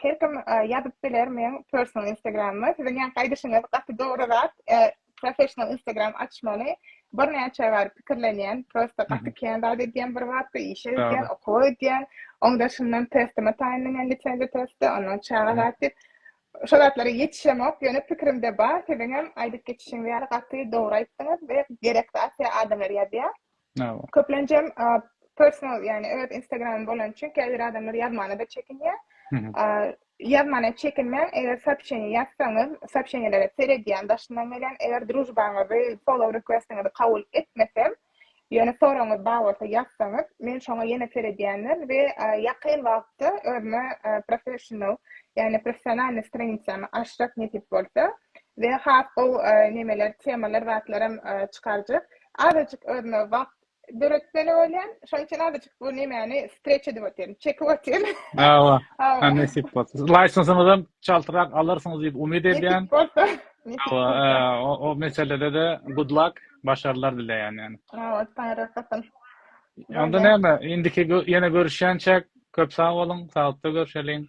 Her kim ýazyp biler meň personal instagramyma. Siziň ýa gaýdyşyňyz gaty dogry zat. Professional instagram açmaly. Birnäçe bar pikirlenýän, prosta gaty kän zat edýän bir wagtda, işe gidýän, okuwa gidýän. Oň daşyndan testime taýynlanýan lisenziýa testi, ondan çaga zat diýip. Şo zatlara ýetişemok, ýöne pikirimde bar. Siziňem aýdyp geçişiňiz ýaly gaty dogry aýtdyňyz we gerek zat ýa adamlar ýazýar. Nawa. Köplenjem personal yani öz instagramym bolan üçin käbir adamlar yazmana da çekinýär. Yazmana çekinmäň, eger soobşeniýe ýazsaňyz, soobşeniýelere seredýän daşyndan gelen, eger družbaňyzy, follow requestiňizi kabul etmesem, ýöne soragyňyz bar bolsa ýazsaňyz, men şoňa ýene seredýändir we ýakyn wagtda özüme professional, yani professionalnyý stranitsany açjak nesip bolsa we has gowy nemeler, temalar, zatlaram çykarjak. Azajyk özüme wagt döretmeli bolýan. Şonuň üçin azajyk bu nämäni streç edip otyryn, çekip otyryn. Hawa. Hawa. Nesip bolsa. Laýsensyňyzam çaltrak alarsyňyz diýip umyt edýän. Nesip bolsa. Hawa, o meselede-de good luck, başarlar dileýän ýani. Hawa, Taňry rehasyn. Onda näme, indiki ýene görüşýänçäk köp sag boluň, sagatda görüşeliň.